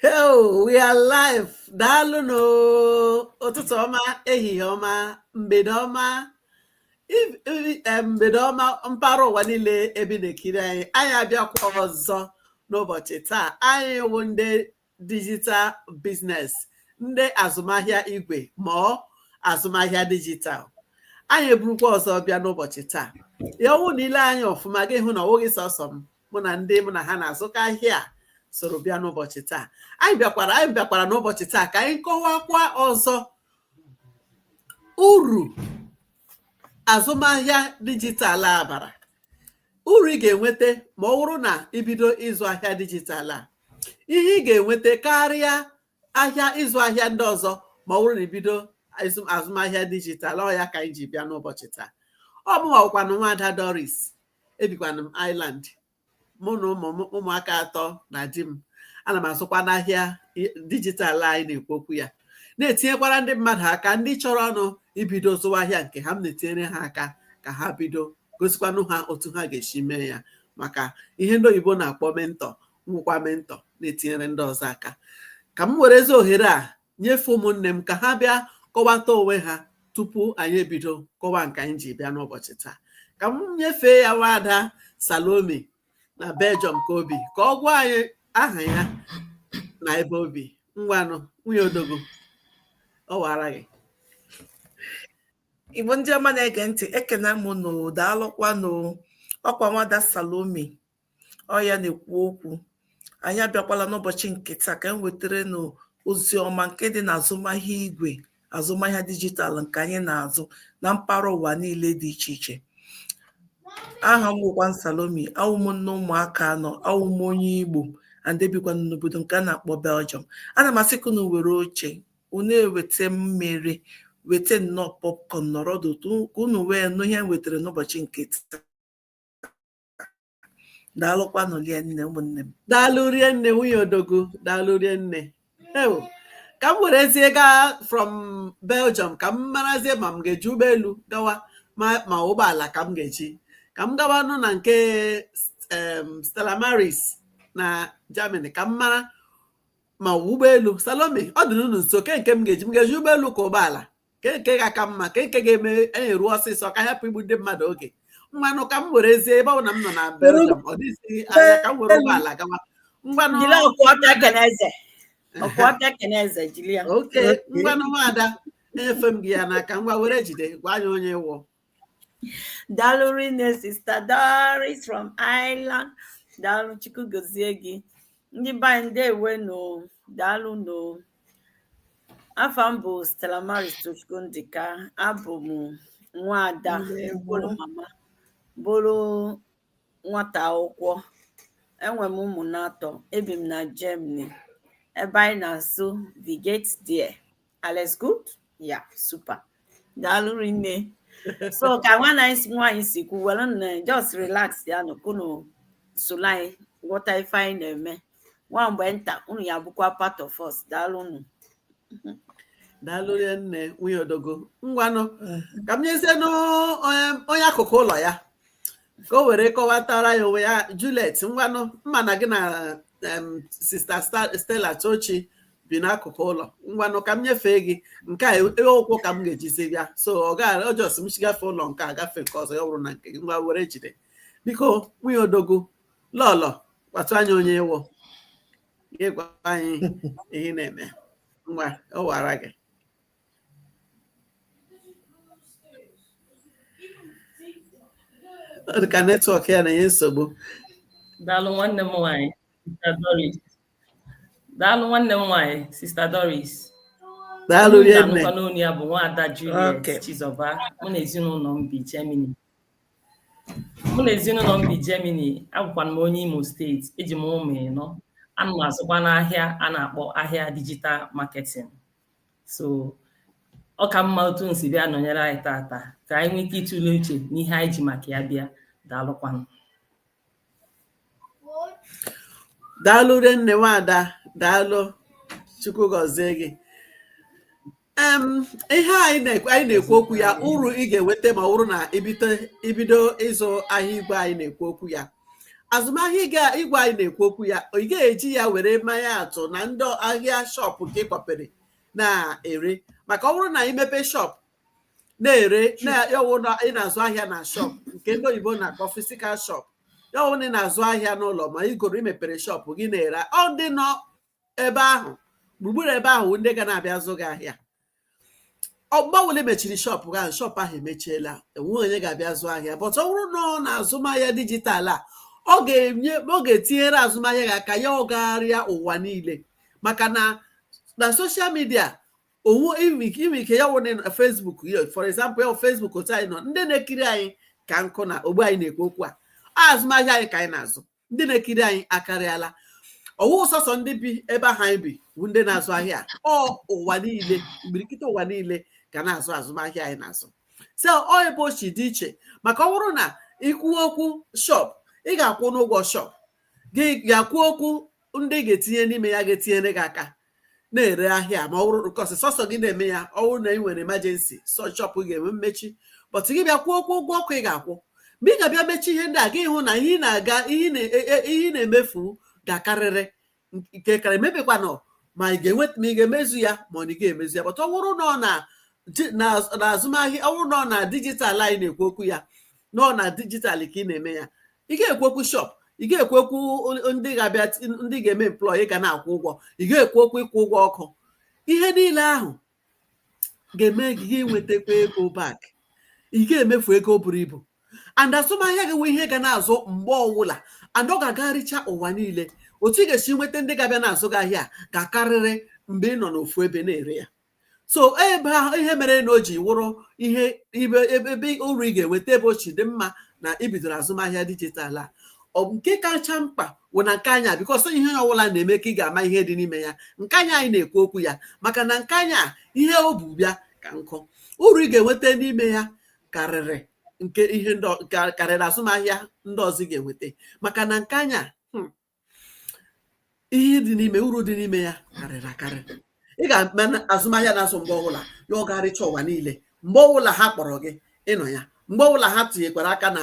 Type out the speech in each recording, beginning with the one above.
Hello, we are live. Daalụ nụ ụtụtụ ọma, ehihie ọma, mgbede ọma, mgbede ọma mpaghara ụwa niile ebe ị na-ekiri anyị. Anyị abịakwa ọzọ n'ụbọchị taa. Anyị wụ ndị digital business ndị azụmahịa igwe ma ọ azụmahịa dijital anyị eburukwa ọzọ bịa n'ụbọchị taa ya ọ wụ na i lee anyị ọfụma gị hụ na ọ wụghị sọsọ m mụ na ndị mụ na ha na-azụka ahịa soro bịa n'ụbọchị taa anyị bịakwara anyị bịakwara n'ụbọchị taa ka anyị kọwakwa ọzọ uru azụmahịa dijitalụ a bara Uru ị ga-enweta ma ọ wụrụ na i bido ịzụ ahịa dijital a ihe ị ga-enweta karịa ahịa ịzụ ahịa ndị ọzọ ma ọ wụrụ na i bido azụmahịa dijital ọ ya ka anyị ji bịa n'ụbọchị taa ọ mụnwa bụkwanụ nwaada Doris ebikwanụ m Ireland mụ na ụmụaka atọ na di m ana m azụkwanụ ahịa dijitalụ anyị na-ekwu okwu ya na-etinyekwara ndị mmadụ aka ndị chọrọnụ ibido zụwa ahịa nke ha m na-etinyere ha aka ka ha bido gosikwanụ ha otu ha ga-esi mee ya maka ihe ndị oyibo na-akpọ mentor m wụkwa mentor na-etinyere ndị ọzọ aka ka m werezie ohere a nyefee ụmụnne m ka ha bịa kọwata onwe ha tupu anyị ebido kọwa nke anyị ji bịa n'ụbọchị taa ka m nyefee ya nwaada Salome na Belgium ka o bi ka ọ gwa anyị aha ya na ebe o bi ngwanụ nwunye odogwu ọ wara gị Igbo ndị ọma na-ege ntị ekena m nụ daalụkwanụ ọ kwa nwaada Salome ọ ya na-ekwu okwu anyị abịakwala n'ụbọchị nke taa ka m wetara nụ ozi ọma nke dị na azụmahịa igwe azụmahịa dijitalụ nke anyị na-azụ na mpaghara ụwa niile dị iche iche aha m wụkwa Salome awụ m nne ụmụaka anọ awụ m onye Igbo and ebikwa m n'obodo nke a na-akpọ Belgium ana m asị ka unu were oche unu eweta mmiri weta nnọọ popcorn nọrọ ọdụ ka unu wee nụ ihe m wetara n'ụbọchị nke taa daalụkwanụ rie nne ụmụnne m daalụ rie nne nwunye odogwu daalụ rie nne ewo ka m werezie gaa from Belgium ka m marazie ma m ga-eji ụgbọelu gawa ma ụgbọala ka m ga-eji ka m gawanụ na nke em, Stella Maris na Germany ka m mara ma ụgbọelu Salome ọ dịnụ unu nso ke nke m ga-eji m ga-eji ụgbọelu ka ụgbọala ke nke ga-aka mma ke nke ga-eme anyị ruo ọsịsọ ka hapụ igbu ndị mmadụ oge ngwanụ ka m werezie ebe ọ na m nọ na Belgium ọ dịghịzi anya ka m were ụgbọala gawa ngwanụ jiri ọkụ ọka ekene eze ọkụ ọka ekene eze jiri ya oke ngwanụ nwaada enyefe m gị ya n'aka ngwa were jide gwa anyị onye ị wụ Daalụ rinne sista Doris from Ireland. Daalụ Chukwu gozie gị. Ndị be anyị ndewo nụ. Daalụ nụ. Afa m bụ Stella Maris Tochukwu Ndịka. Abụ m nwaada bụrụ mama bụrụ nwata akwụkwọ. Enwe m ụmụ n'atọ. Ebi m na Germany. Ebe anyị na-asụ Wie geht's dir. Alles gut? Ja, super. Daalụ rinne. So ka nwanne m nwaanyị si kwu were na just relaxịanụ ka unu soro anyị ghọta ife anyị na-eme. Nwa mgbe nta unu ya-abụkwa part of us. Daalụ nụ. daalụ rinne nwunye Odogwu ngwanụ ka m nyezie onye akụkụ ụlọ ya ka o were kọwatara ya onwe ya Juliet ngwanụ m ma na gị na em, sista Sta- Stella Tochi bi n'akụkụ ụlọ ngwanụ ka m nyefee gị nke a e- ụkwụ ka m ga-ejizi bịa so ọ just m chigafe ụlọ nke a gafe nke ọzọ ya ọ bụrụ na nke gị ngwa were jide biko nwunye Odogwu lọlọ gwatụ anyị onye ị wụ gị gwa anyị ihe ị na-eme ngwa ọ wara gị ọ dị ka netwọk ya na-enye nsogbu daalụ nwanne m nwaanyị Sister Doris daalụ nwanne m nwaanyị sista Doris daalụ rinne n'onu ya bụ nwaada Juliet Chizoba mụ na ezinụlọ m bi Germany mụ na ezinụlọ m bi Germany abụkwa m onye Imo steeti eji m ụmụ ịnọ ana m azụkwanụ ahịa a na-akpọ ahịa digital marketing so ọ ka mma otu unu si bịa nọnyere anyị tata ka anyị nwee ike ịtụle uche n'ihe anyị ji maka ya bịa daalụkwanụ daalụ rinne nwaada daalụ chukwu gọzie gị em ihe anyị na-ekwu anyị na-ekwu okwu ya uru ị ga-enweta ma ọ bụrụ na i bido i bido ịzụ ahịa igwe anyị na-ekwu okwu ya azụmahịa igwe anyị na-ekwu okwu ya ị ga-eji ya were maa ya atụ na ndị ahịa shop nke ị kpọpere na-ere maka ọ bụrụ na i mepee shop na-ere nke wụ na ị na-azụ ahịa na shop nke ndị oyibo na-akpọ physical shop ya wụ na ị na-azụ ahịa n'ụlọ ma ị goro i mepere shop gị na-ere ọ ndị nọ ebe ahụ gburugburu ebe ahụ ndị ga na-abịa zụ gị ahịa mgbe ọ wụla i mechiri shop gị ahụ shop ahụ emechiela enweghị onye ga-abịa zụ ahịa but ọ bụrụ na ọ na azụmahịa dijitalụ a ọ ga-enye ọ ga-etinyere azụmahịa gị aka ya agagharịa ụwa niile maka na na soshal midia owu i nwe ike ya wụ na Facebook ya for example ya Facebook otu anyị nọ ndị na-ekiri anyị ka nkụ na ogbe anyị na-ekwu okwu a azụmahịa anyị ka anyị na-azụ ndị na-ekiri anyị akarịala ọwụ sọsọ ndị bi ebe ahụ anyị bi bụ ndị na-azụ ahịa ọ ụwa niile imirikiti ụwa niile ga na-azụ azụmahịa anyị na-azụ so ọ ebe o chi dị iche maka ọ bụrụ na i kwu okwu shop ị ga-akwụnụ ụgwọ shop gị ga-ekwu okwu ndị ga-etinye n'ime ya ga-etinyere gị aka na-ere ahịa ma ọ bụrụ nkọsị sọsọ gị na-eme ya ọ bụrụ na ị nwere emergency so shop ga-enwe mmechi but gị bịa kwuo okwu ụgwọ ọkụ ị ga-akwụ mgbe ị ga-abịa mechi ihe ndị a gị hụ na ihe ị na-aga ihe ị e, e, e, na-emefu ga-akarịrị nke kara emebikwanụ ma ị ga-enweta ma ị ga-emezu ya ma ọ na ị ga-emezu ya but ọ bụrụ na ọ na n'azụmahịa ọ bụrụ na ọ na dijitalụ anyị na-ekwu okwu ya na ọ na dijitalụ ka ị na-eme ya ị ga-ekwu okwu shop ị ga-ekwu okwu ndị ga-abịa ndị ga-eme employ ị ga na-akwụ ụgwọ ị ga-ekwu okwu ịkwụ ụgwọ ọkụ ihe niile ahụ ga-eme gị i nwetakwa ego back ị ga-emefu ego buru ibu and azụmahịa gị nwe ihe ga na-azụ mgbe ọwụla and ọ ga-agagharịcha ụwa niile otu ị ga-esi nweta ndị ga-abịa na-azụ gị ahịa ga-akarịrị mgbe ị nọ n'ofu ebe na-ere ya so ebe ahụ ihe mere na o ji wụrụ ihe ibe ebe uru ị ga-enweta ebe o chi dị mma na ibidoro azụmahịa dijitalụ a nke kacha mkpa wụ na nke anya because ihe ọbụla na-eme ka ị ga-ama ihe dị n'ime ya nke anya anyị na-ekwu okwu ya maka na nke anya ihe o bu bịa ka nkụ uru ị ga-enweta n'ime ya karịrị nke ihe karịrị azụmahịa ndị ọzọ ị ga-enweta maka na nke anya hmm, ihe dị n'ime uru dị n'ime ya karịrị akarị ị ga-eme na azụmahịa na-azụ mgbe ọbụla ya ọ gagharịcha ụwa niile mgbe ọbụla ha kpọrọ gị ị nọ ya mgbe ọbụla ha tinyekwara aka na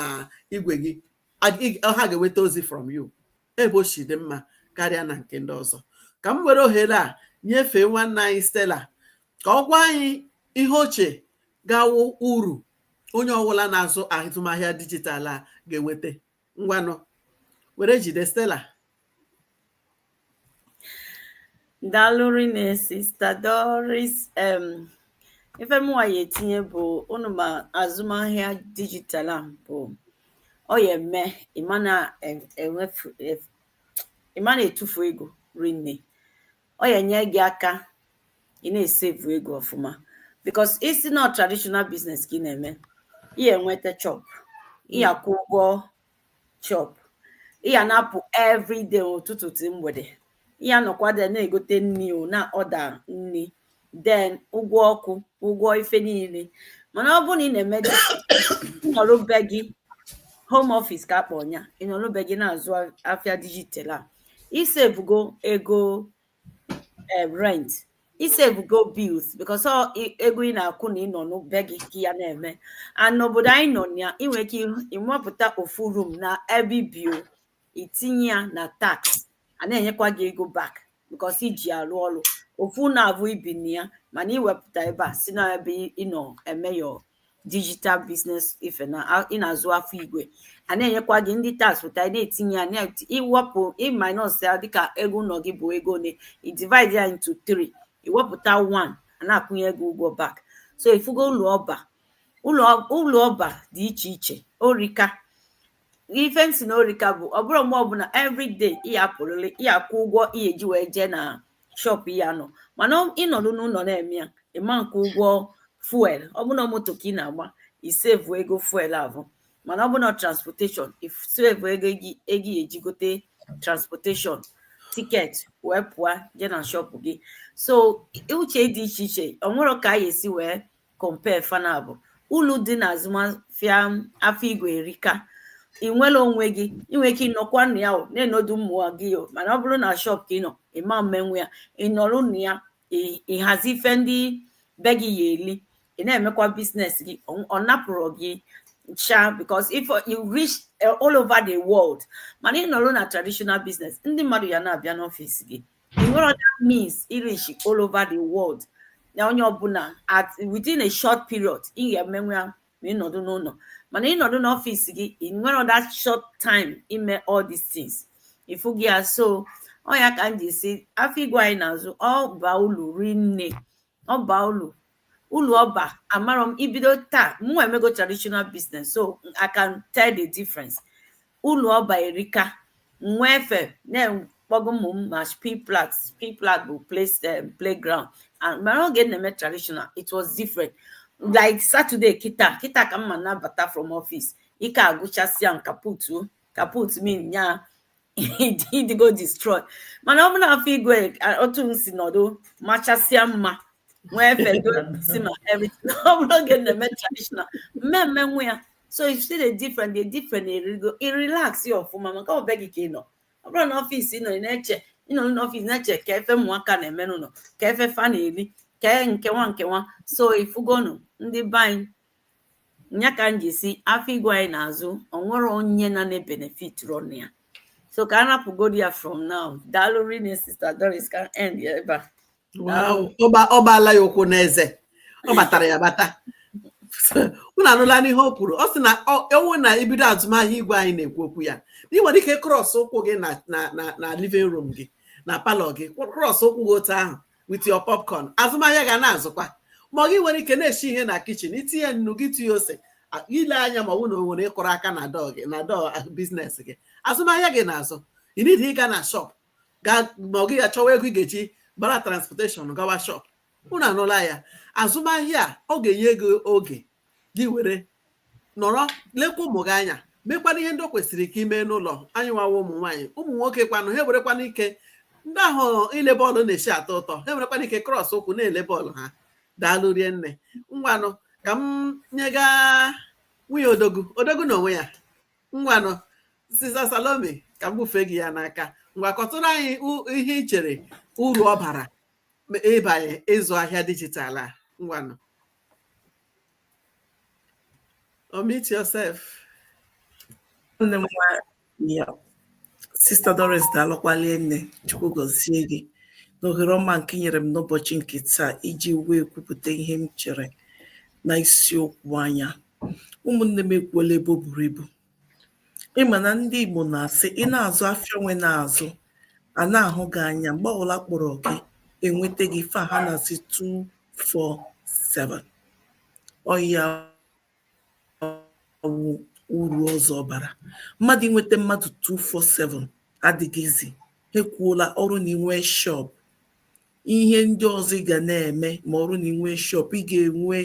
igwe gị a- ị- ha ga-enweta ozi from you ebe o chi dị mma karịa na nke ndị ọzọ ka m were ohere a nyefee nwanne anyị Stella ka ọ gwa anyị ihe o che ga-awụ uru onye ọbụla na-azụ azụmahịa dijitalụ a ga-enweta ngwanụ were jide Stella dalụ rinne sista Doris em ife mụnwa ya-etinye bụ unu ma azụmahịa dijital a bụ ọ ya-eme ị ma na-emefu ị ma na-etufu ego rinne ọ ya-enye gị aka ị na-esevu ego ọfụma because ị sị na traditional business ka ị na-eme ị ya-enweta shop ị ya hmm. akwụ ụgwọ shop ị ya na-apụ everyday ụtụtụ till mgbede ị ya-anọkwa there na-egote nri ị na-order nri then ụgwọ ọkụ ụgwọ ife niile mana ọ bụrụ na ị na-eme nọrụ be gị home office ka a kpọ nya ị nọrụ be gị na-azụ afịa dijital a isevugo ego um rent isevugo bills because ọ i- ego ị na-akwụ na ịnọ n'be gị ka ị ya na-eme and n'obodo anyị nọ na ya ị nwere ike ịhụ- ịmapụta ofu room na ebe i bi o itinye ya na tax a na-enyekwa gị ego back because i ji alụ ọlụ ofu ụnọ avụ i bi na ya mana iwepụta ebe a sị na ebe ị nọ eme your digital business ife na a- ị na-azụ afịa igwe a na-enyekwa gị ndị tax pụta ị na-etinye ya na- iwepụ ịminus ya dịka ego ụnọ gị bụ ego one i divide ya into three iwepụta one a na-akwụnye gị ụgwọ back so ifugo ulu ọ ba ulu ulu ọ ba dị iche iche o rika ife m sị na o rika bụ ọ bụrụ mgbe ọbụla everyday ị ya-apụlịlị ị ya-akwụ ụgwọ ị ya-eji wee jee na shop ị ya-anọ mana ịnọdụ n'ụnọ na-eme ya ị ma nkwụ ụgwọ fuel ọ bụrụ na moto ka ị na-agba isevu ego fuel avụ mana ọ bụrụ na transportation isevu ego ị ya-eji gote transportation ticket wee pụọ je na shop gị so uche dị iche iche o nwerọ ka a ya-esi wee compare fa naabọ ulu dị na azụmahịa afịa igwe erika ị nwere onwe gị ị nwere ike ịnọkwa na ya na-enedo ụmụ gị mana ọ bụrụ na shọp ka ị nọ ị ma mmenwe ya ịnọrụ na ya ịhazi ife ndị be gị ya-eli ị na-emekwa business gị ọ napụrọ gị ncha because if you reach eh, all over the world mana ị nọrụ na traditional business ndị mmadụ ya na-abịa n'ọfịs gị nwerọ that means ị reach all over the world na onye ọbụla at within a short period ị ga-emenwe ya ma ịnọdụ n'ụnọ mana ịnọdụ n'ọfịs gị ị nwerọ that short time ime all these things ịfụgo ya so ọ ya ka m ji sị afịa igwe anyị na-azụ ọ ba ulu rinne ọ ba ulu ulu ọ ba amarọ m ibido taa mụ emego traditional business so I can tell the difference ulu ọ ba erika nwee efe na-ekpọgo ụmụ m ma Spielplatz Spielplatz bụ place um, playground and mana oge m na-eme traditional it was different like Saturday kita kita ka m ma na-abata from office ike agwụchasịa m kaputt kaputt mean ya ị dịgo destroy mana ọ bụ na afịa igwe otu m si nọdụ machasịa mma nwee fedo si ma everything ọ bụrụ oge m na-eme traditional m ma emenwe ya so you see the different the different erigo i relax ya ọfụma maka ọ be gị ka ị nọ ọ bụrụ na ọfịs ị nọ na-eche ịnọ n'ọfịs na-eche kee ife ụmụaka na-eme n'ụnọ kee ife fa na-eri kee nke nwa nke nwa so ifugonu ndị be anyị nya ka m ji si afịa igwe anyị na-azụ o nwere onye na ne benefit from ya so ka a rapụgodi ya from now daalụ rinne sista doris ka end ya ebe a ọ gbaala ya ụkwụ n'eze ọ batara ya bata unu anụlanụ ihe o kwuru ọ sị na ọ wụ na i bido azụmahịa igwe anyị na-ekwu okwu ya ị nwere ike krọs ụkwụ gị na living room gị na palọ gị krọs ụkwụ gị otu ahụ with your popcorn azụmahịa ga na-azụkwa ma gị nwere ike na-esi ihe na kichin itinye nnu gị tinye ose ile anya ma ọ bụ na o nwere ndị kụrụ aka na dọọ gị na dọọ biznes gị azụmahịa gị na-azụ ị nidighị ịga na shọp gaa ma ọ gị achọwa ego ị ga-eji gbara transportation gawa shọp unu anụla ya azụmahịa a ọ ga-enye gị oge gị were nọrọ lekwa ụmụ gị anya mekwana ihe ndị o kwesịrị ka i mee n'ụlọ anyị nwa wụ ụmụ nwaanyị ụmụ nwoke kwanụ ha nwerekwana ike ndị ahụ ile bọọlụ na-esi atọ ụtọ ha nwerekwana ike krọs ụkwụ na-ele bọọlụ ha daalụ rinne ngwanụ ka m nyega nwunye odogwu odogwu na onwe ya ngwanụ sista salome ka m bufee gị ya n'aka ngwa kọtụrụ anyị u- ihe i chere uru ọ bara ịbanye ịzụ ahịa dijitalụ a ngwanụ Unmute yourself. Sista Doris daalụkwa rinne Chukwu gọzie gị n'ohere ọma nke i nyere m n'ụbọchị nke taa iji wee kwupụta ihe m chere na isiokwu anyị a ụmụnne m ekwuola ebe o buru ibu Ị ma na ndị Igbo na-asị ị na-azụ afịa onwe na-azụ a na-ahụ gị anya mgbe ọbụla a kpọrọ gị enweta gị fa ha na-asị 247 ọ ya wụ uru ọzọ ọ bara mmadụ inweta mmadụ 247 adịghị easy ekwuola ọ bụrụ na inwe shọp ihe ndị ọzọ ị ga na-eme ma ọ bụrụ na inwe shọp ị ga-enwe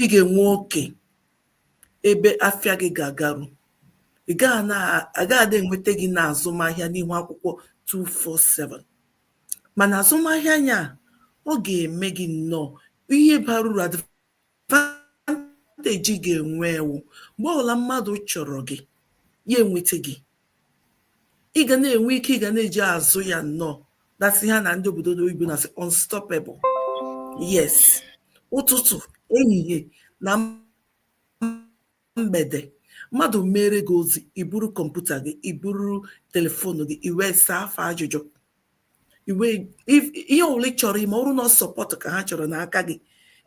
ị ga-enwe oke ebe afịa gị ga-agaru a gaghị na-enweta gị na azụmahịa n'ihu akwụkwọ 247 mana azụmahịa anyị a ọ ga-eme gị nnọọ ihe bara uru advantage ị ga-enwe wụ mgbe ọbụla mmadụ chọrọ gị ya enweta gị ị ga na-enwe ike ị ga na-eji azụ ya nnọọ that's ihe a ndị obodo oyibo na-asị unstoppable yes ụtụtụ ehihie na mgbede mmadụ mere gị ozi i buru kọmputa gị i buru telefonu gị i wee saa fa ajụjụ i mee ihe ọbụla ị chọrọ ime ọ bụrụ na sọpọtụ ka ha chọrọ n'aka gị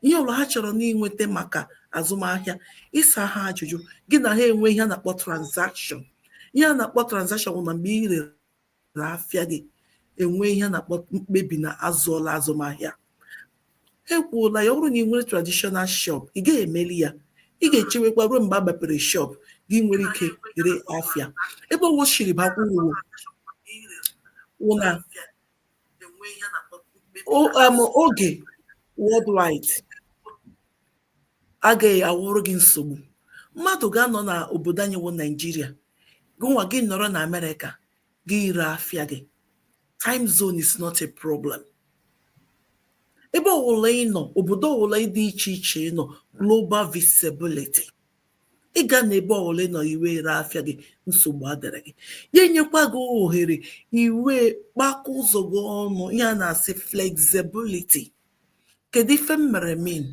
ihe ọbụla ha chọrọ inweta maka azụmahịa ị saa ha ajụjụ gị na ha enwe ihe a na-akpọ tranzakshọn ihe a na-akpọ tranzakshọn bụ na mgbe ị rere afịa gị enwe ihe a na-akpọ mkpebi na a zụọla azụmahịa e kwuola ya ọ bụrụ na ị nwere traditional shop ị gaghị emeli ya ị ga-echewekwa ruo mgbe a mepere shop gị nwere ike ire afịa ebe o shiri bakwa uru wụ na o- um, oge worldwide agaghị awụrụ gị nsogbu mmadụ ga-anọ na obodo anyị wụ naijiria gụnwa gị nọrọ na amerịka gị ire afịa gị time zone is not a problem ebe ọwụla ị nọ obodo ọwụla dị iche iche ị nọ global visibility ị ga-anọ ebe ọwụla ị nọ i wee ree afịa gị nsogbu adịrị gị ya enyekwa gị ohere i wee kpakọ ụzọ gị ọnụ ihe a na-asị flexibility kedu ife m mere mean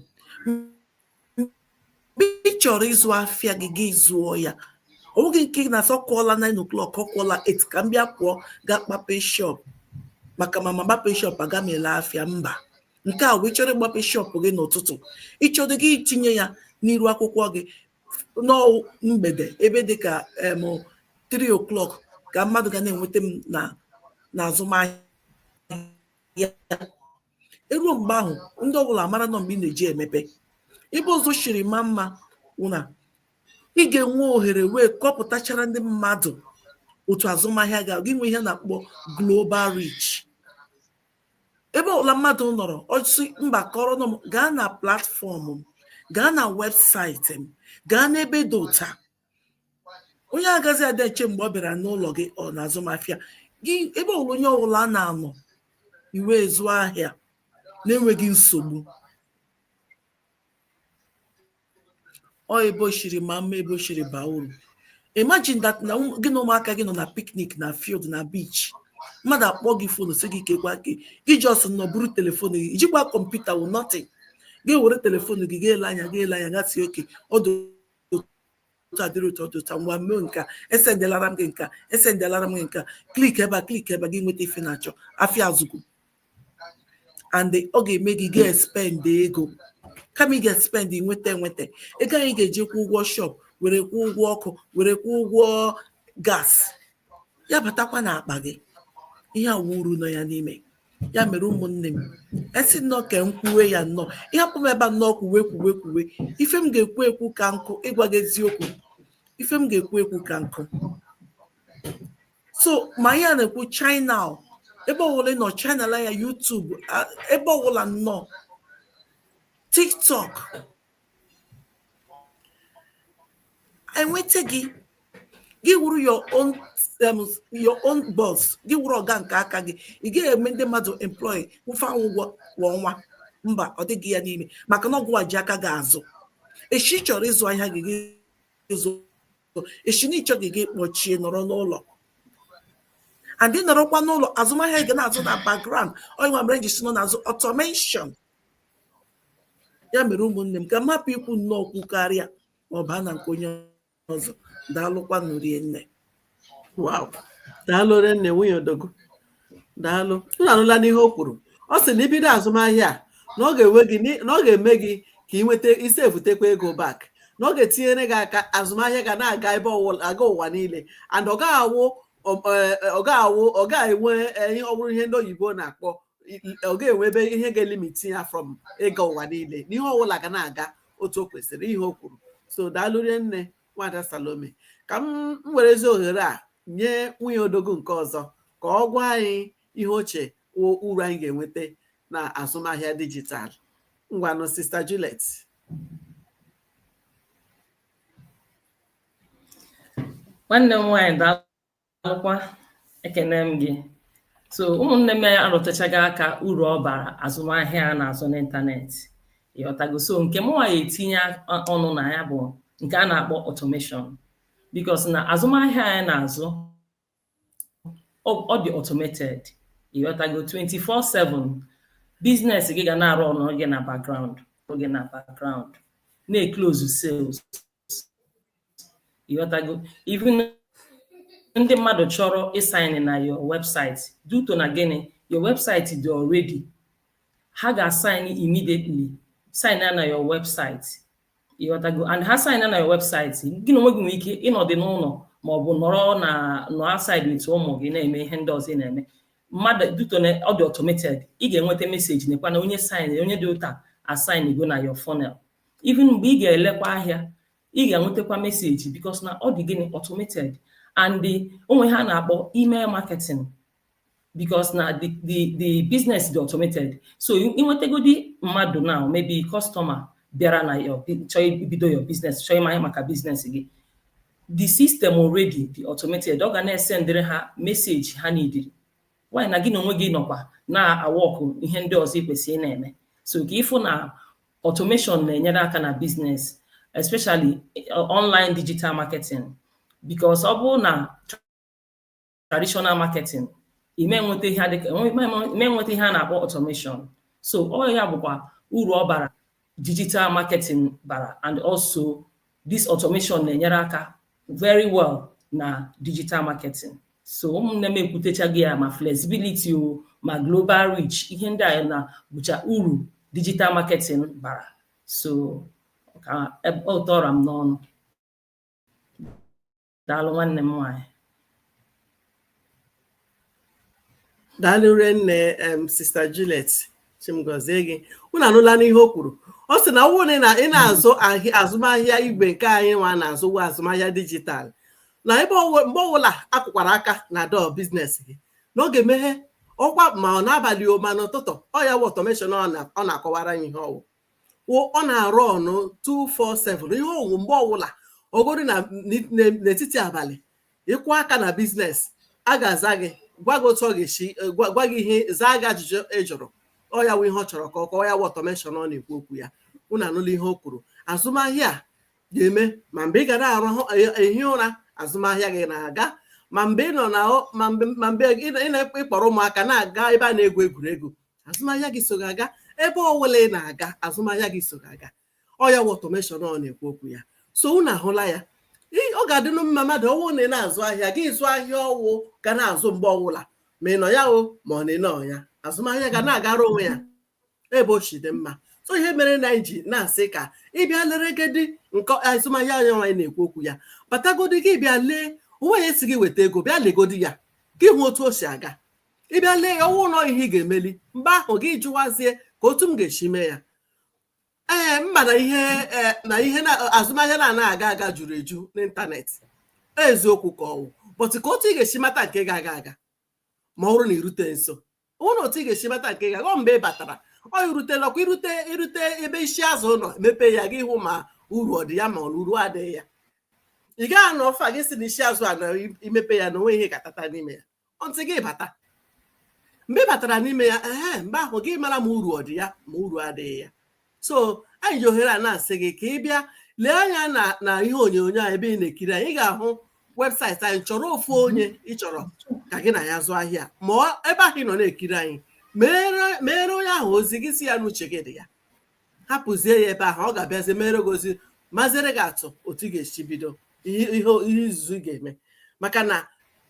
mgbe ị chọrọ ịzụ afịa gị gị zụọ ya ọ wụghị nke ị na-asị ọ kụọla 9 o'clock ọ kụọla 8 ka m bịa pụọ gaa kpape shop maka ma m akpapeghị shop agaghị m ele afịa mba nke a wụ ị chọrọ ịgbape shop gị n'ụtụtụ ị chọdụ gị itinye ya n'iru akwụkwọ gị na ọ wụ mgbede ebe dị ka em 3 o'clock ka mmadụ ga na-enweta m na n'azụmahịa eruo mgbe ahụ ndị ọbụla amara na ọ mgbe ị na-eji emepe ebe ọzọ shiri ma mma wụ na ị ga-enwe ohere wee kọpụtachara ndị mmadụ otu azụmahịa ga gị nwee ihe a na-akpọ global reach ebe ọbụla mmadụ nọrọ ọsị mba kọrọ nọ m gaa na platform m gaa na website m gaa n'ebe dị ụta onye agazi ada eche mgbe ọ bịara n'ụlọ gị ọ na-azụmahịa gị ebe ọbụla onye ọbụla a na-anọ wee zụọ ahịa na-enweghị nsogbu ọ ebe o shiri ma mma ebe o shiri baa uru imagine that na gị na ụmụaka gị nọ na picnic na field na beach mmadụ akpọọ gị phone sị gị kekwa gị gị just nọ buru telefon gị ijikwa kọmputa wụ nothing gị were telefon gị ga-ele anya ga-ele anya ga-asị okay ọ dị otu a dịrị otu a dị otu a ngwa mee nka esendelara m gị nka esendelara m gị nka click ebe a click ebe a gị nweta ife ị na-achọ afịa azụgo and ọ ga-eme gị ga-espend ego kama ị ga-espend nweta enweta ego ahụ ị ga-eji kwụ ụgwọ shop were kwụ ụgwọ ọkụ were kwụ ụgwọ gas ya batakwa n'akpa gị ihe a wụ uru nọ ya n'ime ya mere ụmụnne m a sị nnọọ ka m kwuwe ya nnọọ ị hapụ m ebe a nnọọ kwuwe kwuwe kwuwe ife m ga-ekwu ekwu ka nkụ ịgwa gị eziokwu ife m ga-ekwu ekwu ka nkụ so ma ya na-ekwu china ebe ọbụla nọ china la ya YouTube ebe ọbụla nnọọ tiktok enweta gị gị wụrụ your own um, your own boss gị wụrụ ọga nke aka gị ị gaghị eme ndị mmadụ employ kwụwa ha ụgwọ kwa ọnwa mba ọ dịghị ya n'ime maka na ọ gịnwa ji aka gị azụ echi ị chọrọ ịzụ ahịa gị gị zụ echi na ị chọghị gị kpọchie nọrọ n'ụlọ and ị nọrọkwa n'ụlọ azụmahịa gị na-azụ na background ọ ya nwa mere m ji sị na ọ na-azụ automation ya mere ụmụnne m ka m hapụ ikwu nnọọ okwu karịa ma ọ baa na nke onye ọzọ daalụkwanụ rinne wow daalụ nne nwunye odogwu daalụ unu anụlanụ ihe o kwuru ọ sị na ibido azụmahịa a na ọ ga-enwe gị ni- na ọ ga-eme gị ka ị nweta isi ebutekwa ego back na ọ ga-etinyere gị aka azụmahịa ga na-aga ebe ọwụla aga ụwa niile and ọ gaghị awụ ọ- ọ- ọ gaghị awụ ọ gaghị enwe eh, ihe ọ bụrụ ihe ndị oyibo na-akpọ ọ ga-enwe ebe ihe ga-elimiti ya from ịga ụwa niile na ihe ọbụla ga na-aga otu o kwesịrị ihe o kwuru so daalụ rinne nwada Salome ka m werezi ohere a nye nwunye odogwu nke ọzọ ka ọ gwa anyị ihe o che uru anyị ga-enweta na azụmahịa dijitalụ ngwanụ sista Juliet nwanne m nwaanyị daalụkwa ekene m gị so ụmụnne m arụtụchago aka uru ọ bara azụmahịa a na-azụ n'ịntanetị ịghọtago so nke mụnwa na-etinye ọnụ na ya bụ nke a na-akpọ automation because na azụmahịa anyị na-azụ ọ dị automated ịghọtago 24/7 business gị ga na-arụ ọrụ gị na background gị na background na-eklozu sales ịghọtago even ndị mmadụ chọrọ ịsaịnị na your website due to na gịnị your website dị already ha ga-asaịnị immediately sign na your website ịghọtago and ha sign na your website gị na onwe gị nwere ike ịnọdị n'ụlọ ma ọ bụ nọrọ na nọ outside with ụmụ gị na-eme ihe ndị ọzọ ị na-eme mana due to na ọ dị automated ị ga-enweta meseji nekwa na onye sign onye dị otu a asaịnịgo na your funnel even mgbe ị ga-elekwa ahịa ị ga-enwetakwa meseji because na ọ dị gịnị automated and the o nwe ihe a na-akpọ email marketing because na the the the business dị automated so i nwetagodi mmadụ now maybe customer bịara na your chọọ ibido your business chọọ ịma ihe maka business gị the system already dị automated ọ ga na-esendịrị ha meseji ha niidiri while na gị na onwe gị nọkwa na-awọkụ ihe ndị ọzọ ị kwesịrị na-eme so ka ị fụ na Automation na-enyere aka na business especially eh, online digital marketing because ọ bụrụ na traditional marketing ị ma enweta ihe adịka ị ma enweta ihe a na-akpọ automation so ọ ya bụkwa uru ọ bara digital marketing bara and also This automation na-enyere aka very well na digital marketing. So ụmụnne m ekwutechaghị ya ma flexibility o ma global reach ihe ndị a na bụcha uru digital marketing bara. So ka ọ ra m n'ọnụ. daalụ nwanne m nwaanyị daalụ nne em sister Juliet Chi m gọzie gị unu anụla n'ihe o kwuru ọ sị na ọwụ na ị na-azụ azụmahịa igwe nke anyị nwa na-azụ wụ azụmahịa digital na ebe mgbe ọbụla a kụkwara aka na door business gị na ọ ga-emeghe ọkwa ma ọ n'abalị o ma n'ụtụtụ ọ ya wụ automation ọ na-akọwara anyị ihe ọwụ wụ ọ na-arụnụ 247 ihe ọwụ mgbe ọwụla ọ gụrụ gị n'etiti abalị ị kụọ aka na business a ga-aza gị gwa gị otu ọ ga-esi gwa gị ihe zaa gị ajụjụ ị jụrụ ọ ya wụ ihe ọ chọrọ ka ọ kọọ ya wụ automation ọ na-ekwu okwu ya unu anụla ihe o kwuru azụmahịa ga-eme ma mgbe ị ga na-arahụ ehi ụra azụmahịa gị na-aga ma mgbe ị nọ na ma mgbe ị na-akpọrọ ụmụaka na-aga ebe a na-egwu egwuregwu azụmahịa gị so gị aga ebe ọwụla ị na-aga azụmahịa gị so gị aga ọ ya wụ automation ọ na-ekwu okwu ya so unu ahụla ya ọ ga-adịnụ mma mmadụ ọwụ na ị na-azụ ahịa gị zụ ahịa ọwụ ga na-azụ mgbe ọwụla ma ị nọ ya o ma ọ na ị nọ ya azụmahịa ga na-agara onwe ya ebe o si dị mma so ihe mere na anyị ji na-asị ka ị bịa leregedi nke azụmahịa anyị nwa anyị na-ekwu okwu ya batagodi gị bịa lee o nweghị onye sị gị weta ego bịa legodi ya gị hụ otu o si aga ị bịa lee ya ọwụ na ọ ihe ị ga-emeli mgbe ahụ gị jụwazie kee otu m ga-esi mee ya ee m ma na ihe ee, na ihe na azụmahịa na-anaghị aga aga juru eju n'ịntanetị eziokwu ka ọwụ but kee otu ị ga-esi mata nke ga-aga aga ma ọ bụrụ na i rute nso ọ bụrụ na otu ị ga-esi mata nke ga-aga ọ mgbe ị batara ọ i rutela ọkwa i rute i rute ebe isi azụ nọ mepe ya gị hụ ma uru ọ dị ya ma ọ na uru adịghị ya ị gaghị anọ far gị sị na isi azụ a na i mepee ya na o nwe ihe ga-atata n'ime ya until gị bata mgbe ị batara n'ime ya ee mgbe ahụ gị mara ma uru ọ dị ya ma uru adịghị ya so anyị ji ohere a na-asị gị ka ị bịa lee anya na na ihe onyonyo a ebe ị na-ekiri anyị ị ga-ahụ website anyị chọrọ ofu onye ị chọrọ ka gị na ya zụọ ahịa ma ebe ahụ ị nọ na-ekiri anyị meere onye ahụ ozi gị sị ya na uche gị dị ya hapụzie ya ebe ahụ ọ ga-abịazi mere gị ozi maziere gị atụ otu ị ga-esi bido ihe izuzu ị ga-eme maka na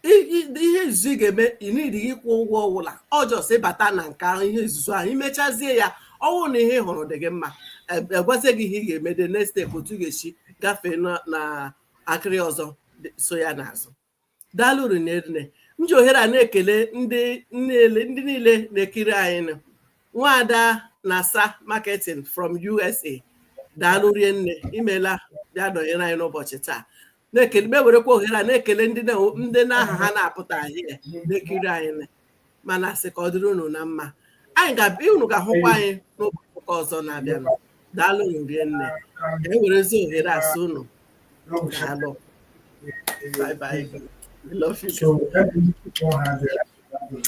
ihe izuzu ị ga-eme ị needighị ịkwụ ụgwọ ọwụla ọ just ịbata na nke ahụ ihe izuzu ahụ i mechazie ya ọwụ na ihe ị hụrụ dị gị mma a gwazie gị ihe ị ga-eme the next step otu ị ga-esi gafee na akịrị ọzọ so ya n'azụ daalụ rinne m ji ohere a na-ekele ndị niile na-ekiri anyị nụ. nwaada nasa marketing from usa daalụ rie nne imela bịa nọnyere anyị n'ụbọchị taa na-ekele m ewerekwa ohere a na-ekele ndị na- ndị n'aha ha na-apụta ahịa na-ekiri anyị nụ. ma na-asị ka ọ dịrị unu na mma anyị ga-abịa unu ga-ahụkwa anyị n'ụbọchị ụka ọzọ na-abịanụ daalụ unu rie nne ka anyị werezi ohere a sị unu daalụ bye bye I love you.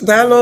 Daalụ.